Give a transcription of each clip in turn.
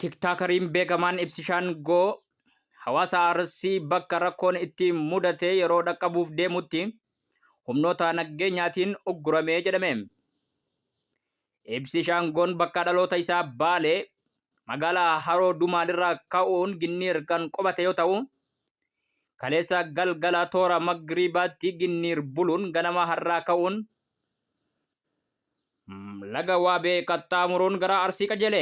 Tiktaakariin beekamaan Ibsishaan Goo hawaasa Arsii bakka rakkoon itti mudate yeroo dhaqqabuuf deemutti humnoota naggeenyaatiin ugguramee jedhame. Ibsi Shaangoon bakka dhaloota isaa Baalee magaalaa Haroo Dumaalirraa ka'uun Ginniir kan qubate yoo ta'u, kaleessa galgala toora Magriibaatti Ginniir buluun ganama har'aa ka'uun Laga Waabee qaxxaamuruun gara Arsii qajeele.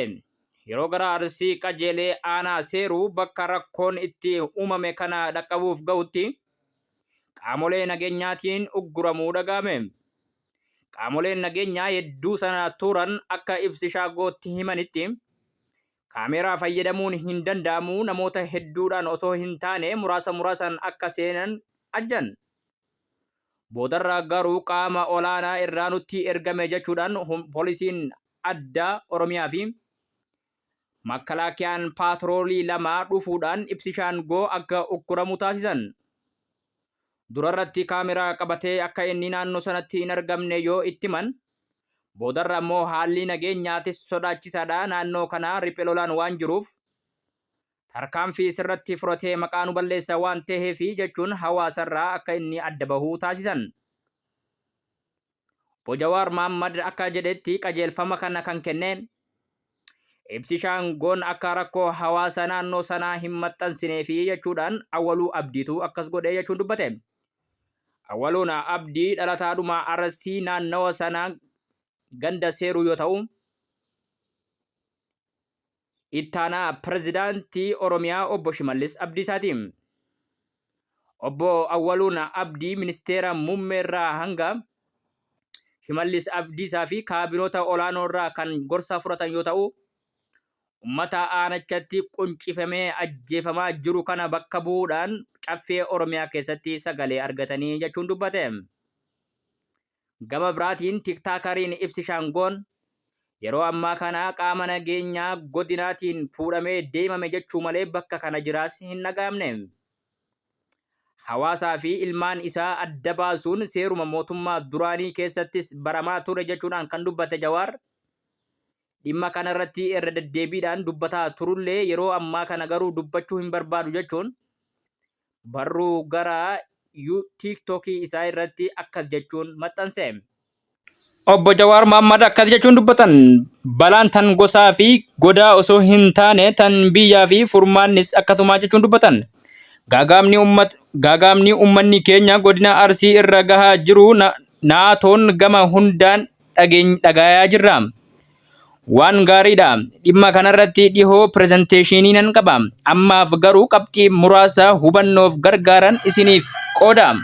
Yeroo gara Arsii qajeelee aanaa seeruu bakka rakkoon itti uumame kana dhaqqabuuf ga'utti qaamolee nageenyaatiin ugguramuu dhaga'ame. Qaamoleen nageenyaa hedduu sana turan akka ibsi shaagootti himanitti kaameeraa fayyadamuun hin danda'amu namoota hedduudhaan osoo hin taane muraasa muraasan akka seenan ajjan. Boodarra garuu qaama olaanaa irraa nutti ergame jechuudhaan polisiin addaa Oromiyaa fi makkalaakiyaan paatroolii lama dhufuudhaan ibsishaan goo akka ukkuramu taasisan. Durarratti kaameraa qabatee akka inni naannoo sanatti hin argamne yoo itti himan, boodarra ammoo haalli nageenyaatis sodaachisaadha naannoo kana riphelolaan waan jiruuf tarkaanfii isirratti fudhatee maqaa nu balleessa waan taheefi jechuun hawaasarraa akka inni adda bahu taasisan. Obbo Jawaar Mahaammad akka jedhetti qajeelfama kana kan kenne ibsi Shaangoon akka rakkoo hawaasa naannoo sanaa hin maxxansineefi jechuudhaan Awwaluu Abdiitu akkas godhe jechuun dubbate. Awwaluun Abdii dhalataadhuma Arsii naannawa sanaa ganda Seeruu yoo ta'u, Ittaanaa Pirezidaantii Oromiyaa Obbo Shimallis Abdiisaati. Obbo Awwaluun Abdii Ministeera Muummeerraa hanga Shimallis Abdiisaa fi kaabinoota olaanoorraa kan gorsa fudhatan yoo ta'u, ummata aanachatti quncifamee ajjeefamaa jiru kana bakka bu'uudhaan Caffee Oromiyaa keessatti sagalee argatanii jechuun dubbate. Gama biraatiin Tiktaakariin Ibsi Shaangoon yeroo ammaa kana qaama nageenyaa godinaatiin fuudhamee deemame jechuu malee bakka kana jiraas hin dhagaamne. Hawaasaa fi ilmaan isaa adda baasuun seeruma mootummaa duraanii keessattis baramaa ture jechuudhaan kan dubbate Jawaar dhimma kana irratti irra deddeebiidhaan dubbataa turullee yeroo ammaa kana garuu dubbachuu hin barbaadu jechuun Barruu gara you tiktok isaa irratti akkas jechuun maxxanse. Obbo Jawaar Mohammad akkas jechuun dubbatan, Balaan tan gosaa fi godaa osoo hin taane tan biyyaa fi furmaannis akkasuma jechuun dubbatan. Gaagaamni ummat gaagaamni ummanni keenya godina Arsii irra gahaa jiru na naatoon gama hundaan dhageeny dhagaayaa jirra. Waan gaariidha. Dhimma kanarratti dhihoo pirezenteeshinii nan qaba. Ammaaf garuu qabxii muraasa hubannoof gargaaran isiniif qooda.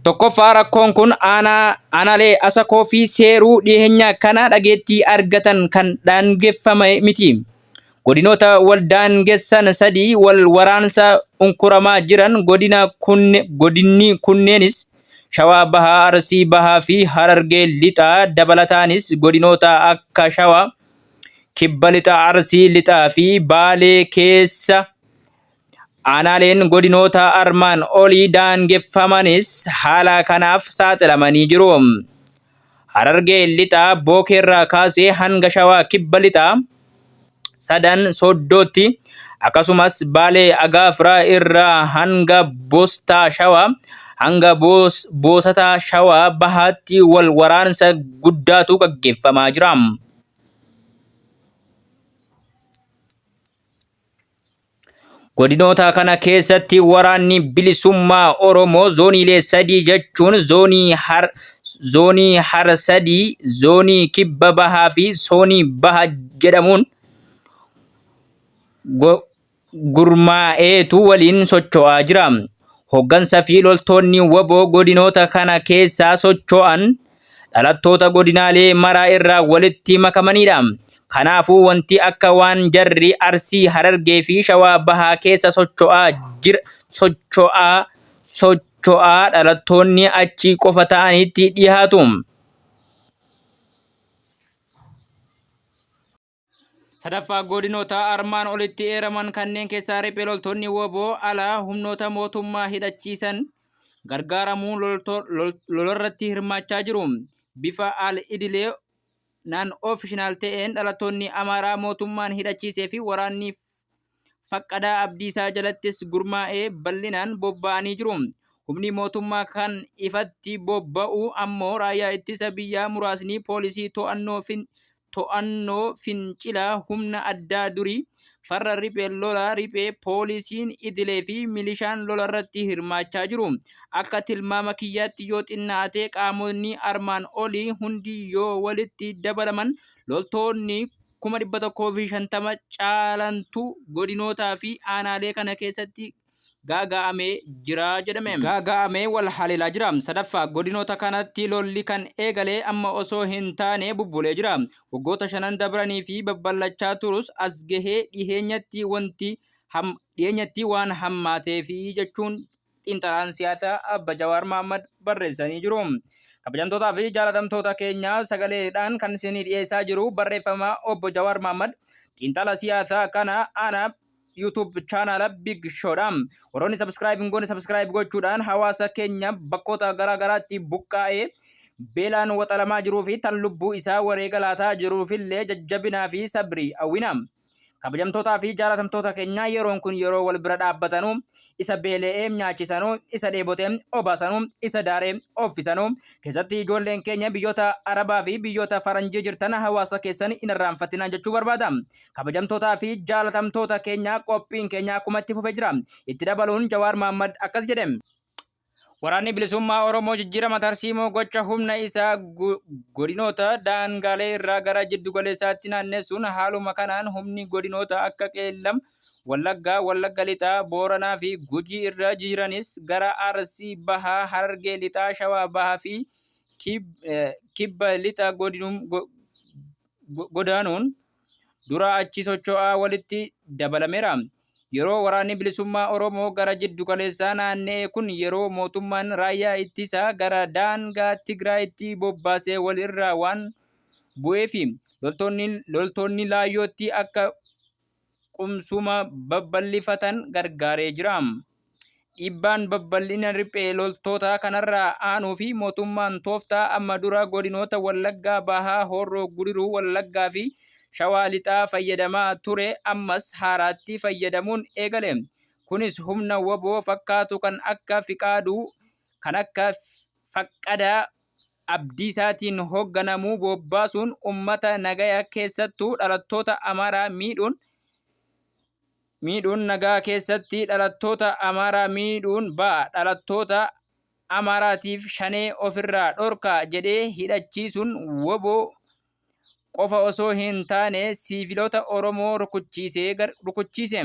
Tokkoffaa rakkoon kun aanaa aanaalee asakoo fi seeruu dhiyeenya kana dhageettii argatan kan daangeffame miti. Godinoota wal daangessan sadii wal waraansa unkuramaa jiran godina kunne, godinni kunneenis Shawaa Bahaa, Arsii Bahaa fi Harargee Lixaa dabalataanis godinoota akka Shawaa, Kibba Lixa Arsii Lixaa fi Baalee keessa aanaaleen godinoota armaan olii daangeffamanis haala kanaaf saaxilamanii jiru. Harargee Lixaa Bookeerraa kaasee hanga Shawaa Kibba Lixaa, Sadan, Sooddootti, akkasumas Baalee Agaafraa irraa hanga Bostaa Shawaa, hanga Boosataa Shawaa Bahaatti wal waraansa guddaatu gaggeeffamaa jira. Godinoota kana keessatti waraanni bilisummaa Oromoo zooniilee sadii jechuun zoonii har zoonii har sadii, zoonii kibba bahaa fi zoonii baha jedhamuun gurmaa'eetu waliin socho'aa jira. Hoggansa fi loltoonni waboo godinoota kana keessaa socho'an dhalattoota godinaalee maraa irraa walitti makamanidha. Kanaafuu wanti akka waan jarri Arsii, Harargee fi Shawaa Bahaa keessa socho'aa jira socho'aa socho'aa dhalattoonni achi qofa ta'anitti dhihaatu. Sadaffaa godinoota armaan olitti eeraman kanneen keessaa riphee loltoonni woboo alaa humnoota mootummaa hidhachiisan gargaaramuun lolarratti hirmaachaa jiru. Bifa al idilee naan ofishinaal ta'een dhalattoonni Amaaraa mootummaan hidhachiisee fi waraanni faqqadaa abdiisaa jalattis gurmaa'ee bal'inaan bobba'anii jiru. Humni mootummaa kan ifatti bobba'u ammoo raayyaa ittisa biyyaa muraasni poolisii to'annoo to'annoo fincila humna addaa durii farra riphee lolaa riphee poolisiin idilee fi milishaan lolarratti hirmaachaa jiru. Akka tilmaama kiyyaatti yoo xinnaatee qaamonni armaan olii hundi yoo walitti dabalaman loltoonni 150,000 caalantu godinootaa fi aanaalee kana keessatti gaaga'amee jira jedhame. Gaaga'amee wal haleelaa jira. Sadaffaa, godinoota kanatti lolli kan eegale amma osoo hin taane bubbulee jira. Waggoota shanan dabranii fi babbal'achaa turus as gahee dhiheenyatti wanti dhiyeenyatti waan hammaateefi jechuun xiinxalaan siyaasaa Abba Jawaar Mahaammad barreessanii jiru. Kabajamtootaa fi jaalatamtoota keenya sagaleedhaan kan isinii dhiyeessaa jiru barreeffama obbo Jawaar Mahaammad xiinxala siyaasaa kana ana YouTube chaanaala Big Showdha. Warroonni subscribe hin goone subscribe gochuudhaan hawaasa keenya bakkoota garaa garaatti buqqaa'ee beelaan waxalamaa jiruu fi tan lubbuu isaa wareega laataa jiruufillee jajjabinaa fi sabrii hawwina. Kabajamtootaa fi jaalatamtoota keenya yeroon kun yeroo wal bira dhaabbatanuu isa beele'ee nyaachisanuu isa dheebotee obaasanuu isa daaree offisanuu keessatti ijoolleen keenya biyyoota Arabaa fi biyyoota Faranjii jirtan hawaasa keessan hin irraanfatinaa jechuu barbaada. Kabajamtootaa fi jaalatamtoota keenya qophiin keenya akkuma itti fufe jira. Itti dabaluun Jawaar Mahaammad akkas jedhe. Waraanni bilisummaa Oromoo jijjiirama tarsiimoo gocha humna isaa godinoota daangaalee irraa gara jiddu galeessaatti naannessuun haaluma kanaan humni godinoota akka Qeellam, Wallaggaa, Wallagga Lixaa, Booranaa fi Gujii irra jiranis gara Arsii Bahaa, Harargee Lixaa, Shawaa Bahaa fi Kibba Lixa godaanuun dura achi socho'aa walitti dabalameera. Yeroo waraanni bilisummaa Oromoo gara jiddu galeessaa naanna'e kun yeroo mootummaan raayyaa ittisaa gara daangaa Tigraayitti bobbaasee wal irraa waan bu'eefi loltoonni, loltoonni laayyootti akka qubsuma babal'ifatan gargaaree jira. Dhiibbaan babbal'ina riphee loltootaa kanarraa aanuu fi mootummaan tooftaa amma dura godinoota Wallaggaa Bahaa, Horroo Gudiruu Wallaggaa fi Shawaa Lixaa fayyadamaa ture ammas haaraatti fayyadamuun eegale. Kunis humna waboo fakkaatu kan akka Fiqaaduu, kan akka Faqqadaa Abdiisaatiin hoogganamu bobbaasuun uummata nagaya keessattuu dhalattoota Amaaraa miidhuun miidhuun nagaa keessatti dhalattoota Amaaraa miidhuun ba'a dhalattoota Amaaraatiif shanee ofirraa dhorkaa jedhee hidhachiisuun wbo qofa osoo hin taane siivilota Oromoo rukuchiise.